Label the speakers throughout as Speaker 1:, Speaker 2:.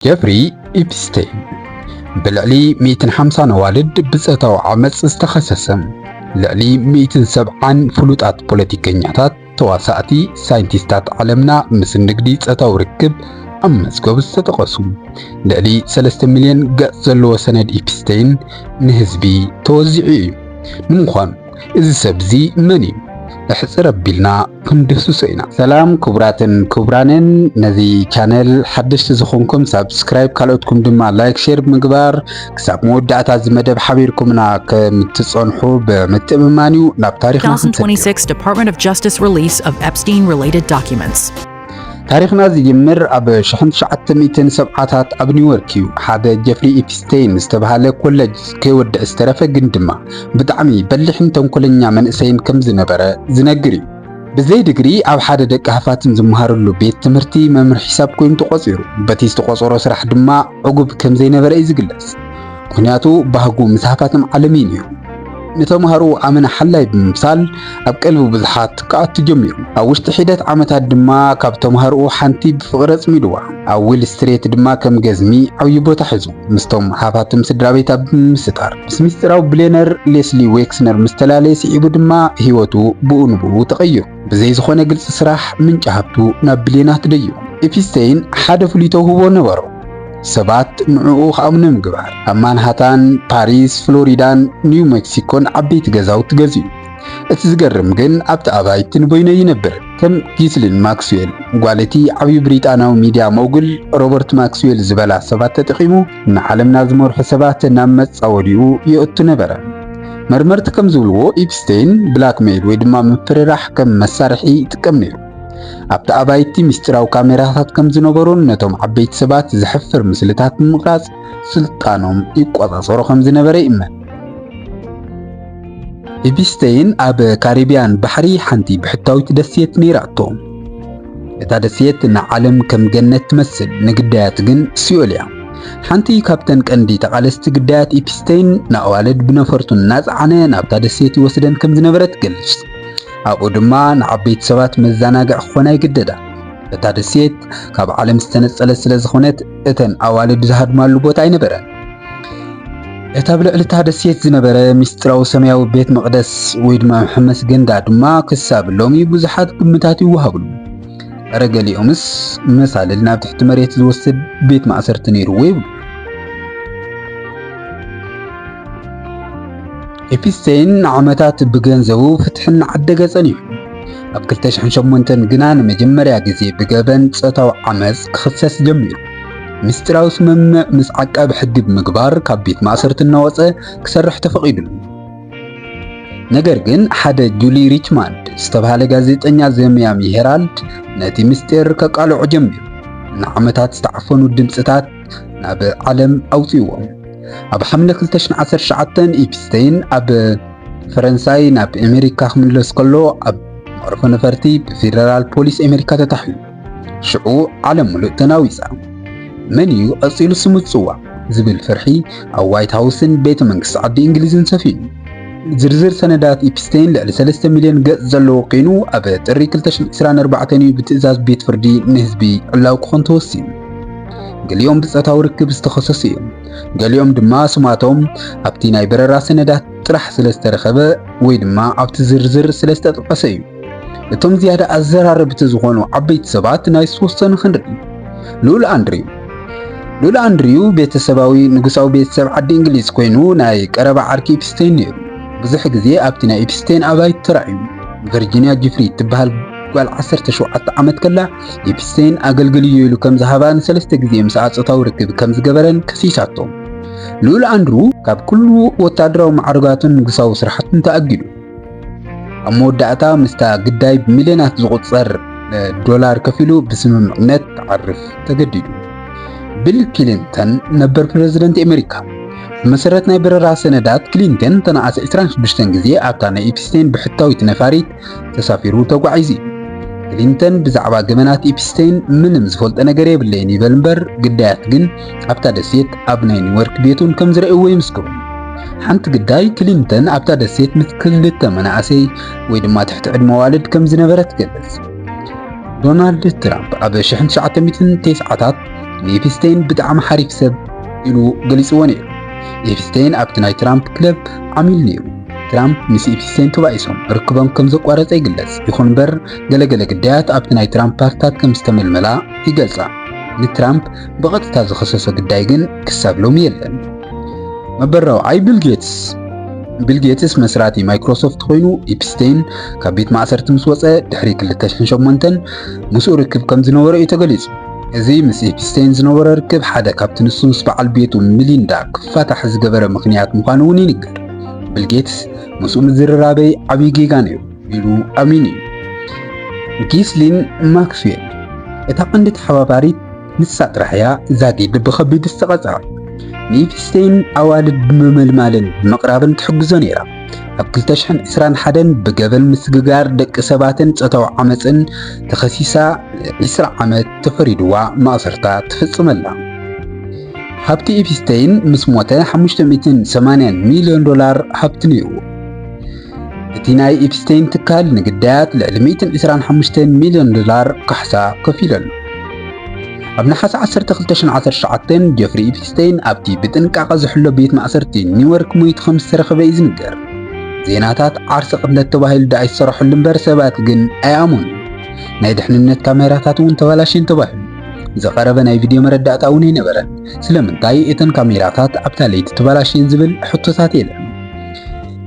Speaker 1: ጀፍሪ ኢፕስቴን ብልዕሊ 150 ነዋልድ ብጸታዊ ዓመጽ ዝተኸሰሰ ልዕሊ 170 ፍሉጣት ፖለቲከኛታት፣ ተዋሳእቲ፣ ሳይንቲስታት ዓለምና ምስ ንግዲ ጸታዊ ርክብ ኣብ መዝገብ ዝተጠቐሱ ልዕሊ 3 ሚልዮን ገጽ ዘለዎ ሰነድ ኢፕስቴን ንህዝቢ ተወዚዑ እዩ። ንምዃኑ እዚ ሰብ እዚ መን እዩ? ኣሕጽር ኣቢልና ክንድህስሶ ኢና። ሰላም ክቡራትን ክቡራንን ነዚ ቻነል ሓደሽቲ ዝኾንኩም ሳብስክራይብ ካልኦትኩም ድማ ላይክ ሼር ብምግባር ክሳብ መወዳእታ እዚ መደብ ሓቢርኩምና ከምትጸንሑ ብምትእምማን እዩ ናብ ታሪኽና ክንሰግር። 2026 Department
Speaker 2: of Justice release of Epstein related documents. ታሪኽና
Speaker 1: ዝጅምር ኣብ ሽሕን ትሽዓተ ሚእትን ሰብዓታት ኣብ ኒውዮርክ እዩ። ሓደ ጀፍሪ ኢፕስቴይን ዝተባህለ ኮለጅ ከይወድዕ ዝተረፈ ግን ድማ ብጣዕሚ በሊሕን ተንኮለኛ መንእሰይን ከም ዝነበረ ዝነግር እዩ። ብዘይ ድግሪ ኣብ ሓደ ደቂ ሃፋትም ዝመሃርሉ ቤት ትምህርቲ መምህር ሒሳብ ኮይኑ ተቖጺሩ፣ በቲ ዝተቖጸሮ ስራሕ ድማ ዕጉብ ከም ዘይነበረ እዩ ዝግለጽ። ምክንያቱ ባህጉ ምስ ሃፋትም ዓለምይን እዩ። ንተማሃሮ ኣመና ሓላይ ብምምሳል ኣብ ቀልቢ ብዙሓት ክኣቱ ጀሚሩ። ኣብ ውሽጢ ሒደት ዓመታት ድማ ካብ ተማሃሮኡ ሓንቲ ብፍቕሪ ኣጽሚድዋ። ኣብ ዊል ስትሬት ድማ ከም ገዝሚ ዓብዪ ቦታ ሒዙ፣ ምስቶም ሃፋትም ስድራቤት ኣብ ምምስጣር። ምስ ምስጢራዊ ብሌነር ሌስሊ ዌክስነር ምስ ተላለየ ስዒቡ ድማ ህይወቱ ብኡ ንብኡ ተቐይሩ። ብዘይ ዝኾነ ግልፂ ስራሕ ምንጪ ሃብቱ ናብ ብልዮናት ደዩ። ኤፒስተይን ሓደ ፍሉይ ተውህቦ ነበሮ፣ ሰባት ንዕኡ ክኣምኑ ምግባር። ኣብ ማንሃታን፣ ፓሪስ፣ ፍሎሪዳን ኒው መክሲኮን ዓበይቲ ገዛውቲ ገዚኡ። እቲ ዝገርም ግን ኣብቲ ኣባይቲ ንበይኑ ኣይነብርን። ከም ጊስሊን ማክስዌል፣ ጓል እቲ ዓብዪ ብሪጣንያዊ ሚድያ ሞጉል ሮበርት ማክስዌል ዝበላ ሰባት ተጠቒሙ ንዓለምና ዝመርሑ ሰባት ናብ መጻወዲኡ የእቱ ነበረ። መርመርቲ ከም ዝብልዎ ኢፕስቴይን ብላክሜይል ወይ ድማ ምፍርራሕ ከም መሳርሒ ይጥቀም ነይሩ። ኣብቲ ኣባይቲ ምስጢራዊ ካሜራታት ከም ዝነበሩን ነቶም ዓበይቲ ሰባት ዘሕፍር ምስልታት ብምቕራጽ ስልጣኖም ይቆጻጸሮ ከም ዝነበረ ይእመን። ኢፕስቴይን ኣብ ካሪብያን ባሕሪ ሓንቲ ብሕታዊት ደሴት ነይራቶ። እታ ደሴት ንዓለም ከም ገነት ትመስል፣ ንግዳያት ግን ሲኦል እያ። ሓንቲ ካብተን ቀንዲ ተቓለስቲ ግዳያት ኢፕስተይን ንኣዋልድ ብነፈርቱ እናጸዓነ ናብታ ደሴት ይወስደን ከም ዝነበረ ትገልጽ። ኣብኡ ድማ ንዓበይቲ ሰባት መዘናግዒ ክኾና ይግደዳ። እታ ደሴት ካብ ዓለም ዝተነጸለት ስለ ዝኾነት እተን ኣዋልድ ዝሃድማሉ ቦታ ኣይነበረን። እቲ ኣብ ልዕሊ እታ ደሴት ዝነበረ ምስጢራዊ ሰማያዊ ቤት መቕደስ ወይ ድማ መሐመስ ገንዳ ድማ ክሳብ ሎሚ ብዙሓት ግምታት ይወሃብሉ። እረ ገሊኦምስ መሳልል ናብ ትሕቲ መሬት ዝወስድ ቤት ማእሰርቲ ነይርዎ ይብሉ። ኤፒስቴይን ንዓመታት ብገንዘቡ ፍትሒ እናዓደገ ጸኒሑ ኣብ 2008 ግና ንመጀመርያ ግዜ ብገበን ጾታዊ ዓመጽ ክኽሰስ ጀሚሩ። ምስጢራዊ ስምምዕ ምስ ዓቃቢ ሕጊ ብምግባር ካብ ቤት ማእሰርቲ እናወጸ ክሰርሕ ተፈቒዱሉ። ነገር ግን ሓደ ጁሊ ሪችማንድ ዝተባህለ ጋዜጠኛ ዘሚያሚ ሄራልድ ነቲ ምስጢር ከቃልዖ ጀሚሩ። ንዓመታት ዝተዓፈኑ ድምጽታት ናብ ዓለም ኣውጽዎም። ኣብ ሓምለ 2019 ኢፕስተይን ኣብ ፈረንሳይ ናብ ኣሜሪካ ክምለስ ከሎ ኣብ መዕርፎ ነፈርቲ ብፌደራል ፖሊስ ኣሜሪካ ተታሒዙ። ሽዑ ዓለም ምሉእ ተናዊጻ። መን እዩ ቀጺሉ ስሙ ዝጽዋዕ ዝብል ፍርሒ ኣብ ዋይት ሃውስን ቤተ መንግስቲ ዓዲ እንግሊዝን ሰፊኑ። ዝርዝር ሰነዳት ኢፕስቴን ልዕሊ 3 ሚልዮን ገጽ ዘለዎ ኮይኑ ኣብ ጥሪ 2024 እዩ ብትእዛዝ ቤት ፍርዲ ንህዝቢ ዕላዊ ክኾን ተወሲኑ። ገሊኦም ብጾታዊ ርክብ ዝተኸሰሱ እዮም። ገሊኦም ድማ ስማቶም ኣብቲ ናይ በረራ ሰነዳት ጥራሕ ስለ ዝተረኸበ ወይ ድማ ኣብቲ ዝርዝር ስለ ዝተጠቐሰ እዩ። እቶም ዝያዳ ኣዘራረብቲ ዝኾኑ ዓበይቲ ሰባት ናይ ዝተወሰኑ ክንርኢ። ልኡል ኣንድሪው ልኡል ኣንድሪው ቤተሰባዊ ንጉሳዊ ቤተሰብ ዓዲ እንግሊዝ ኮይኑ ናይ ቀረባ ዓርኪ ኢፕስቴን ነይሩ። ብዙሕ ግዜ ኣብቲ ናይ ኢፕስቴን ኣባይቲ ተራእዩ። ቨርጂንያ ጂፍሪ እትበሃል ጓል 17 ዓመት ከላ ኢፕስቴን ኣገልግልዮ ኢሉ ከም ዝሃባ ንሰለስተ ግዜ ምስኣ ጾታዊ ርክብ ከም ዝገበረን ከሲሳቶ። ልኡል ኣንድሩ ካብ ኩሉ ወታደራዊ ማዕርጋቱን ንጉሳዊ ስራሕቱን ተኣጊዱ። ኣብ መወዳእታ ምስታ ግዳይ ብሚልዮናት ዝቑጸር ዶላር ከፊሉ ብስምምዕነት ክዓርፍ ተገዲዱ። ቢል ክሊንተን ነበር ፕረዚደንት ኣሜሪካ ብመሰረት ናይ በረራ ሰነዳት ክሊንተን ተነኣሰ 26 ግዜ ኣብታ ናይ ኢፕስቴን ብሕታዊት ነፋሪት ተሳፊሩ ተጓዒዙ እዩ። ክሊንተን ብዛዕባ ገበናት ኢፕስቴን ምንም ዝፈልጦ ነገር የብለይን ይበል እምበር ግዳያት ግን ኣብታ ደሴት ኣብ ናይ ኒውዮርክ ቤቱን ከም ዝረእዎ ይምስክሩ። ሓንቲ ግዳይ ክሊንተን ኣብታ ደሴት ምስ ክልተ መናእሰይ ወይ ድማ ትሕቲ ዕድመ ዋልድ ከም ዝነበረ ትገልጽ። ዶናልድ ትራምፕ ኣብ 1990ታት ንኤፕስቴን ብጣዕሚ ሓሪፍ ሰብ ኢሉ ገሊጽዎ ነይሩ። ኤፕስቴን ኣብቲ ናይ ትራምፕ ክለብ ዓሚል ነይሩ። ትራምፕ ምስ ኤፕስቴን ተባኢሶም ርክቦም ከም ዘቋረጸ ይግለጽ። ይኹን እምበር ገለገለ ግዳያት ኣብቲ ናይ ትራምፕ ፓርትታት ከም ዝተመልመላ ይገልጻ። ንትራምፕ ብቐጥታ ዝኸሰሶ ግዳይ ግን ክሳብ ሎሚ የለን። መበል ራብዓይ ቢል ጌትስ ቢል ጌትስ መስራቲ ማይክሮሶፍት ኮይኑ ኢፕስቴን ካብ ቤት ማእሰርቲ ምስ ወፀ ድሕሪ 2008 ምስኡ ርክብ ከም ዝነበሮ እዩ ተገሊጹ። እዚ ምስ ኢፕስቴን ዝነበሮ ርክብ ሓደ ካብቲ ንሱ ምስ በዓል ቤቱ ሚሊንዳ ክፋታሕ ዝገበረ ምኽንያት ምዃኑ እውን ይንገር። ቢል ጌትስ ምስኡ ምዝርራበይ ዓብዪ ጌጋ ነይሩ። ኢሉ ኣሚኑ እዩ። ጊስሊን ማክስዌል እታ ቀንዲ ተሓባባሪት ንሳ ጥራሕ እያ ዛጊድ ብኸቢድ ዝተቐጽዐ። ንኢፕስቴይን ኣዋልድ ብምምልማልን ብምቕራብን ትሕግዞ ነይራ። ኣብ 2021 ብገበን ምስግጋር ደቂ ሰባትን ጾታዊ ዓመጽን ተኸሲሳ 20 ዓመት ተፈሪድዋ ማእሰርታ ትፍጽመላ። ሃብቲ ኢፕስቴይን ምስ ሞተ 580 ሚልዮን ዶላር ሃብቲ ነይርዎ። እቲ ናይ ኢፕስቴን ትካል ንግዳያት ልዕሊ 125 ሚልዮን ዶላር ካሕሳ ከፊሉ ኣሎ። ኣብ ነሓሰ 12/2019 ጀፍሪ ኢፕስቴን ኣብቲ ብጥንቃቐ ዝሕሎ ቤት ማእሰርቲ ኒውዮርክ ሞይቱ ከም ዝተረኽበ እዩ ዝንገር። ዜናታት ዓርሰ ቅትለት ተባሂሉ ደኣ ይሰራሕሉ እምበር ሰባት ግን ኣይኣመኑ። ናይ ድሕንነት ካሜራታት እውን ተባላሽየን ተባሂሉ። ዝቐረበ ናይ ቪድዮ መረዳእታ እውን ኣይነበረን። ስለምንታይ እተን ካሜራታት ኣብታ ለይቲ ተባላሽየን ዝብል ሕቶታት የለን።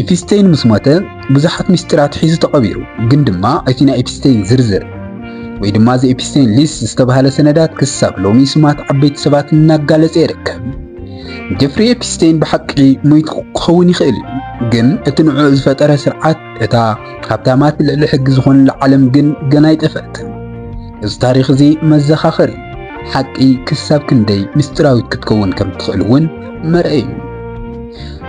Speaker 1: ኢፕስተይን ምስ ሞተ ብዙሓት ምስጢራት ሒዙ ተቐቢሩ፣ ግን ድማ እቲ ናይ ኢፕስተይን ዝርዝር ወይ ድማ ዘ ኢፕስተይን ሊስት ዝተባህለ ሰነዳት ክሳብ ሎሚ ስማት ዓበይቲ ሰባት እናጋለጸ ይርከብ። ጀፍሪ ኤፕስተይን ብሓቂ ሞይቱ ክኸውን ይኽእል እዩ፣ ግን እቲ ንዕኡ ዝፈጠረ ስርዓት እታ ሃብታማት ልዕሊ ሕጊ ዝኾኑላ ዓለም ግን ገና ኣይጠፍአትን። እዚ ታሪኽ እዚ መዘኻኸሪ እዩ። ሓቂ ክሳብ ክንደይ ምስጢራዊት ክትከውን ከም እትኽእል እውን መርኣዪ እዩ።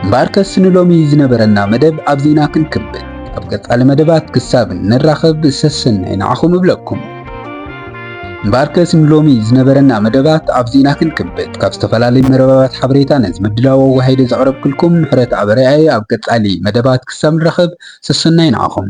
Speaker 1: እምበኣርከስ ንሎሚ ዝነበረና መደብ ኣብዚ ኢና ክንክብል። ኣብ ቀጻሊ መደባት ክሳብ እንራኸብ ሰሰናይ ንዓኹም እብለኩም። እምበኣርከስ ንሎሚ ዝነበረና መደባት ኣብዚ ኢና ክንክብጥ ካብ ዝተፈላለዩ መረባባት ሓበሬታ ነዚ ምድላው ኣወሃሂደ ዘቕረብክልኩም ምሕረት ኣበረያ እየ ኣብ ቀጻሊ መደባት ክሳብ ንራኸብ ሰሰናይ ንዓኹም